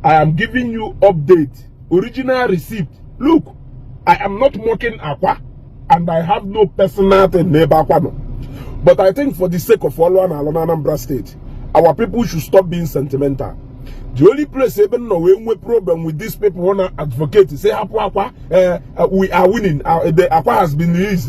I am giving you update original receipt look I am not mocking Akwa and I have no personal thing n'ebe Akwa nọ but I think for the sake of ọlụ a na-alụ n'Anambra steeti our people should stop being sentimental the only place ebe m nọ wee nwee problem with these people wanna advocate sị hapụ Akwa eh, eh, we are winning eh, akwa has been released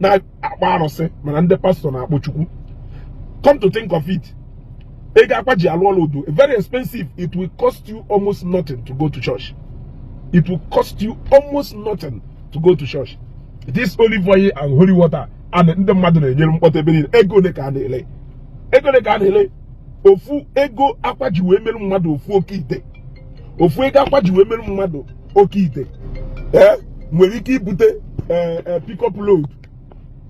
na-akpọ arụsị mana ndị pastọ na-akpọ chukwu come to think of it ego akwa ji alụ ọlụ dị very expensive it will cost you almost nothing to go to church it will cost you almost nothing to go to church this olive oil and holy water a ndị mmadụ na-enyere mkpọtụ ebe niile ego ole ka a na-ele ego ole ka a na-ele ofu ego akwa ji wee mere mmadụ ofu oke ite ofu ego akwa ji wee mere mmadụ oke ite ee nwere ike ibute ee e, e, pick up load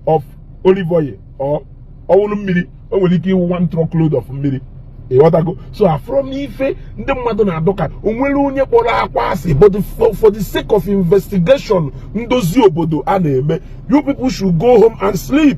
of olive oil or ọ wụrụ mmiri o nwere ike ịwụ one truck load of mmiri ị ghọtago so afụrọ m ife ndị mmadụ na-adọka o nwerọ onye kpọrọ akwa asị but for the sake of investigation ndozi obodo a na-eme you people should go home and sleep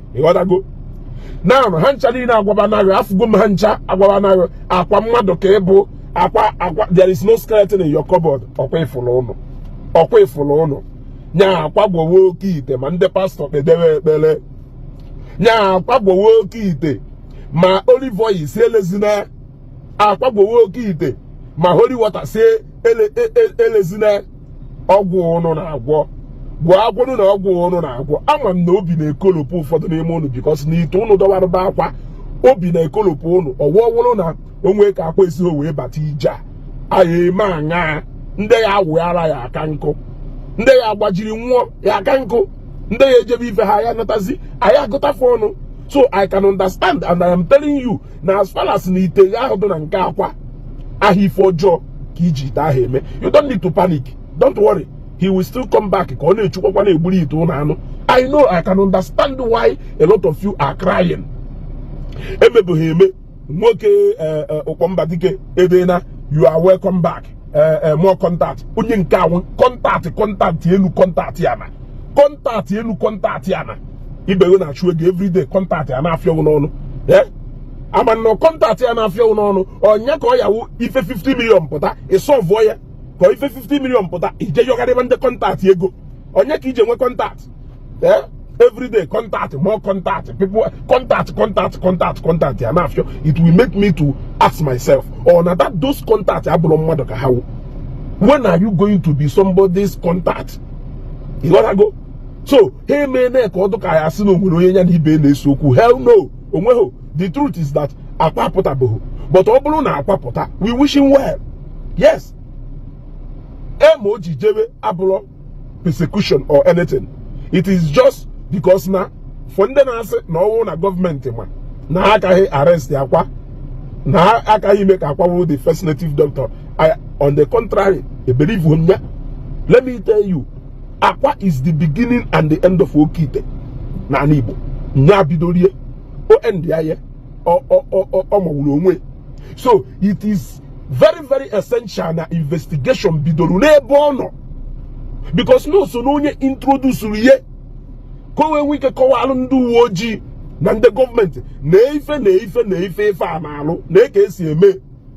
ị ghọtago na ha ncha niile agwaba naghị afụgo m ha ncha agwaba naghị akwa mmadụ ka ị bụ akwa akwa there is no skeleton in your cupboard ọ kwa ị fụlụ ụnụ ọ kwa ị fụlụ ụnụ nya akwa gwọwe oke ite ma ndị pastọ kpedebe ekpere nya akwa gwọwe oke ite ma olive oil si elezina akwa gwọwe oke ite ma holy water si e, e, e, elezina ọgwụ ụnụ na-agwọ gwọ agwọnụ na ọgwụ ụnụ na-agwọ ama m na obi na-ekolopụ ụfọdụ n'ime ụnụ because na ite ụnụ dọwara be akwa obi na-ekolopụ ụnụ ọ wụ ọ wụrụ na o nwe ka akwa esi wee bata ije a anyị eme aṅaa ndị ya awụghara ya aka nkụ ndị ya agbajiri nwụọ ya aka nkụ ndị ya ejebe ife ha ya natazi anyị agụtafe ọnụ so i can understand and i am telling you na as far as na ite ahụ dị na nke akwa aha ife ọjọọ ka e ji ite ahụ eme you don't need to panic don't worry he will still come back ka ọ na-echukwakwa na-egburu ite ụnụ anụ i know i can understand why a lot of you are crying emebeghị eme nwoke eh, eh, ụkpọmba dike edena you are welcome back eh, more contact onye nke a wụ contact contact elu contact ya na contact elu contact ya na ibe gị na-achụ ego everyday contact ya na-afịọ ụnụ n'ọnụ ee ama m na contact ya na-afịọ ụnụ n'ọnụ ọ nya ka ọ ya-awụ ife 50 million pụta ị sọvụọ ya ka ọ ife 50 million pụta i jee yọgharịba ndị contact ego ọ nya ka i ji nwe contact ee everyday contact more contact people contact contact contact contact ya na-afịọ it will make me to ask myself ọ na that those contact abụrọ mmadụ ka ha wụ when are you going to be somebody's contact ị ghọtago so ha emeela ka ọ dụka ya sị na o nwere onye ya na ibe na-ese okwu hell no onweghị the truth is that akwa apụtabeghị but ọ bụrụ na akwa pụta we wish him well yes ema o ji jewe abụrọ persecution or anything it is just because na for ndị na-asị na ọ wụ na gọọmenti ma na ha agaghị arrest akwa na ha agaghị ime ka akwa wụrụ the first native doctor I, on the contrary ebelieveho m ya let me tell you akwa is the beginning and the end of oke ite n'ani igbo nya bidoro ya o end ya ya ọ mawuru onwe so it is very very essential na investigation bidoro n'ebe ọ nọ because na so na onye introducere ya ka o wee nwee ike kọwalụ ndị uwe ojii na ndị gọọmenti na ife na ife na ife ife a na-arụ na eke esi eme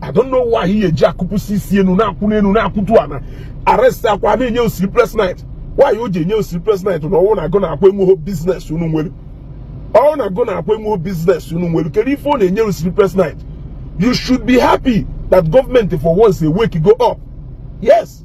I don't know why ihe eji akụpụsi isi enu na-akụ n'enu na-akụtu ana arrest akwa na-enye gị sleepless night why o ji enye gị sleepless night na ọ wụ na gị na akwa enweghị business unu nwere ọ wụ na gị na akwa enweghị business unu nwere kedu ife ọ na-enye gị sleepless night you should be happy that gọọmenti for once awakego up yes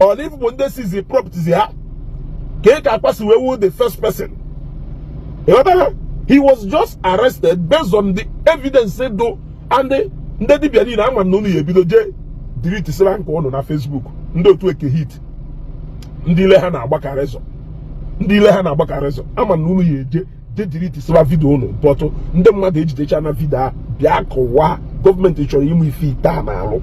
or n'ife bụ ndị seize properties ha kee ka akwa si wee wu the first person ịghọtara he was just arrested based on the evidence dụ and ndị dibia niile ama m na unu ya ebido jee deletesira nke unu na Facebook ndị otu eke hit ndị ile ha na-agbakarị ezo ndị ile ha na-agbakarị ezo ama m na unu ya eje deletesira video unu but ndị mmadụ ejidechana video a bịa kọwa gọọmenti chọrọ ịmụ ife ite a na-arụ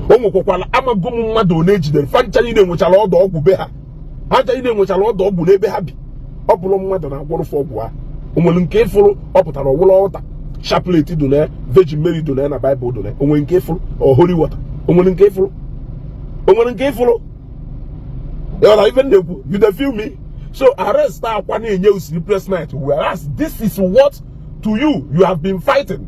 o nwekwakwara amago m mmadụ ole ejidere fa ncha niile enwechara ọdụ ọgwụ be ha ha ncha niile enwechara ọdụ ọgwụ n'ebe ha bi ọ bụrụ mmadụ na-agwọrọ fa ọgwụ ha o nwere nke ịfụrụ ọ pụtara ọ wụrụ altar chaplet dị na Virgin Mary dị na na Bible dị na onwe nke ịfụrụ or holy water onwere nke ịfụrụ onwere nke ịfụrụ ịghọtara ife m na-ekwu you dey feel me so arrest akwa na-enye gị sleepless night whereas this is what to you you have been fighting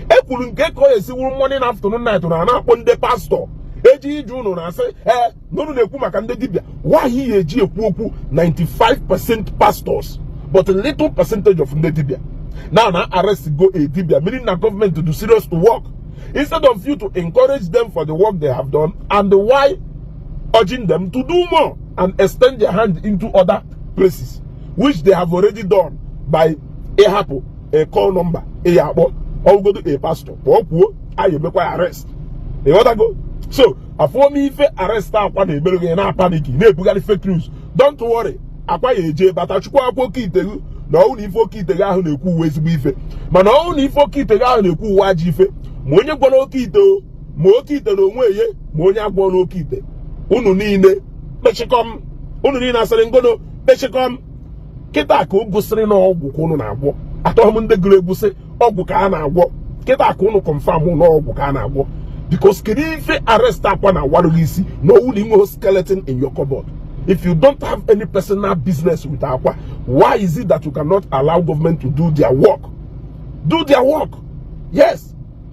ekwuru nke ka ọ esi wuru morning afternoon night na na-akpọ ndị pastọ eji ije ụnụ na-asị ee n'ụnụ na-ekwu maka ndị dibịa why ihe eji ekwu okwu 95% pastors but little percentage of ndị dibịa now na arrestgo a dibia meaning na government do serious work instead of you to encourage them for the work they have done and while urging them to do more and extend their hand into other places which they have already done by ịhapụ a call number ị ya akpọ ọ wụgodu a pastor ka ọ kwuo anyị emekwa arrest ịghọtago so afụrọ m ife arrest akwa na-emere gị na-apanic na-ebugharị fake news don't worry akwa ya eje bata chukwu akwa oke ite ghụ na ọ wụ na ife oke ite ghụ ahụ na-ekwu wụ ezigbo ife mana ọ wụ na ife oke ite ghụ ahụ na-ekwu wụ ajọ ife ma onye gwọrọ oke ite ma oke ite na onwe ye ma onye a gwọra oke ite unu niile kpechikọm unu niile asịrị ngono kpechikọm kịta ka o gosiri na ọgwụ ka unu na-agwọ atọghị m ndị gụrụ egwusi ọgwụ ka a na-agwọ kịta ka ụnụ confirm na ọgwụ ka a na-agwọ because kedu ife arrest akwa na-awarụ ghị isi na ọ wụ na i nweghị skeleton in your cupboard if you don't have any personal business with akwa why is it that you cannot allow government to do their work do their work yes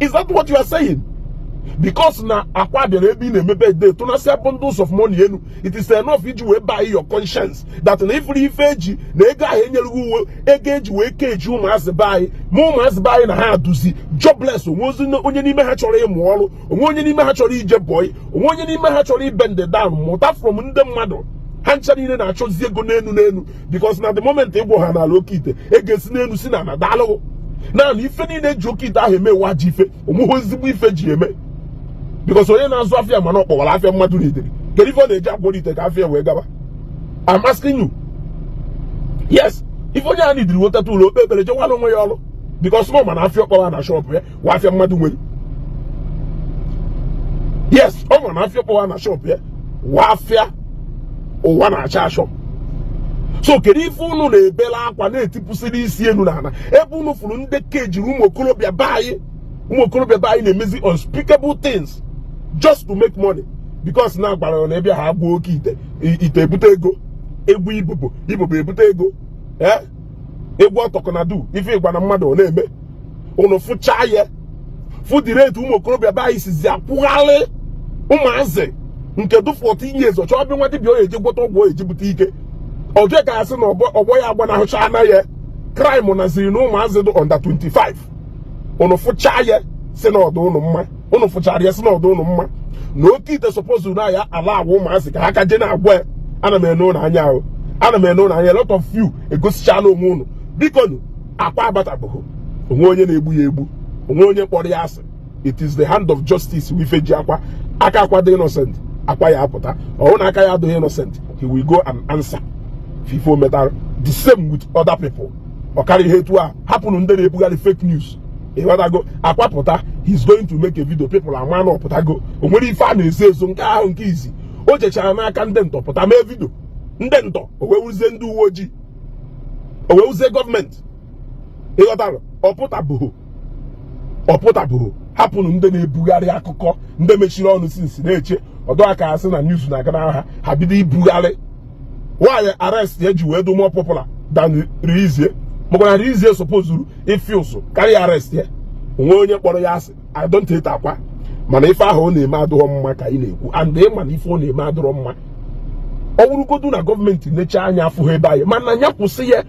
is that what you are saying because na akwa bịara ebe ị na-eme birthday tụnasịa bundles of money enu it is enough iji wee buy your conscience that na ị fụrụ ife eji na ego ahụ e nyere ghị wụ ego eji wee keji ụmụazị be anyị ma ụmụazị be anyị na ha adụzị jobless onwezi onye n'ime ha chọrọ ịmụ ọrụ onwe onye n'ime ha chọrọ ije boy onwe onye n'ime ha chọrọ ịbend down mụta from ndị mmadụ ha ncha niile na-achọzi ego n'enu n'enu because na the moment ị gwọhanala oke ite ego esi n'enu si na-adaalụ ghụ naanị ife niile e ji oke ite ahụ eme wụ ajọ ife onweghị ezigbo ife e ji eme because onye na-azụ afịa ma na ọ kpọwara afịa mmadụ needịrị kedu ife ọ na-eje agwọrọ ite ka afịa wee gaba I'm asking you yes ife onye a needịrị wụ o teta ụla o kpee ekpere jewara onwe ya ọrụ because na ọ ma na afịa ọ kpọwa na shop ya wụ afịa mmadụ nwere yes ọ ma na afịa ọ kpọwa na shop ya wụ afịa ụwa na-achọ achọ so kedu ife unu na-ebela akwa na-etipụsịrị isi enu na ana ebe unu fụrụ ndị keji ụmụ okorobịa be anyị ụmụ okorobịa be anyị na-emezi unspeakable things just to make money because na agwara na ị bịa ha agwọ oke ite ite ebute ego ị gwọ ibobo ibobo ebute ego ee eh? ị gwọọ talk na do ife ị gwana mmadụ ọ na-eme ụnụ fụcha ya fụ the rate ụmụ okorobịa be anyị sizi akwụghalị ụmụazị nke dụ 14 years ọ chọọ be nwa dibịa ọ ya-eji gwọta ọgwụ ọ ya-eji bute ike ọ dị ya ka a sị na ọgbọ ya agbanahụchaana ya crime nọziri na ụmụazị dị under 25 ụnụ fụcha ya sị na ọ dụ ụnụ mma ụnụ fụchara ya sị na ọ dụ ụnụ mma na oke ite suppose na ya ala agwa ụmụazị ka ha ka je na-agwọ ya ana m ene ụnụ anya ahụ ana m ene ụnụ anya lot of you egosichala onwe ụnụ bikonụ akwa abatabụghị onwe onye na-egbu ya egbu onwe onye kpọrọ ya asị it is the hand of justice wụ ife ji akwa aka akwa dị innocent akwa ya apụta ọ wụrụ na aka ya adịghị innocent he will go and answer for ife o metara the same with other people ọ karịhe etu a hapụnụ ndị na-ebugharị fake news ịghọtago Akwa pụta he's going to make a video people ama na ọ pụtago o nwere ife a na-ezo ezo nke ahụ nke izi o jechara n'aka ndị ntọ pụta mee video ndị ntọ o wee wụzie ndị uwe ojii o wee wụzie gọọmenti ịghọtara ọ pụtabụghị hapụnụ ndị na-ebugharị akụkọ ndị mechiri ọnụ since na-eche ọ dụ ka a sị na news na-aga n'aha ha bido ibugharị why arrest ya ji wee dụ more popular than release ya maka na release ya supposed ife ụsụ karịa arrest ya o nwe onye kpọrọ ya asị I don't hate Akwa mana ife ahụ ọ na-eme adụrọ mma ka ị na-ekwu and ị ma na ife ọ na-eme adụrọ mma ọ wụrụgodu na gọọmenti neche anya afụghị ebe anyị mana ya kwụsị ya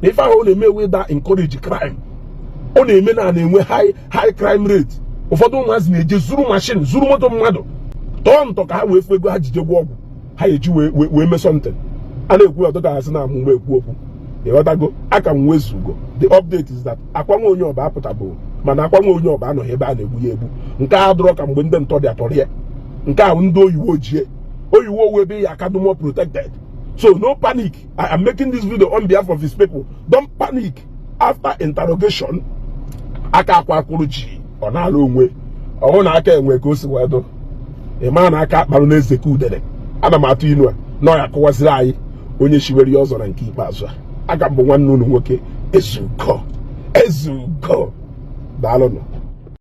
na ife ahụ ọ na-eme wee na encourage crime ọ na-eme na a na-enwe high high crime rate ụfọdụ ụmụazị na-eje zuru mashin zuru moto mmadụ tọọ ntọ ka ha wee fụ ego ha jije gwọ ọgwụ ha eji wee mee something a na-ekwu ọ dụ ka ha sị na amụ m ekwu okwu ịghọtago aka m wụ Ezugo the update is that Akwa nwa onye Ọba apụtabụ mana Akwa nwa onye Ọba anọghị ebe a na-egbu ya egbu nke a adụrọ ka mgbe ndị ntọ ndị a tọrọ ya nke a wụ ndị oyiwo ji ya oyiwo ọ wụ ebe ọ ya-aka dị more protected so no panic i am making this video on behalf of his people don't panic after interrogation aka Akwa kwụrụ ji ọ na-ala onwe ọhụụ na aka enwe ka o si wee dụ ị maa na aka akparụ na-eze ka udere ana m atụ inu a na ọ ya kọwaziri anyị onye shiwere ya ọzọ na nke ikpeazụ a aka m bụ nwanne unu nwoke Ezugo Ezugo daalụnụ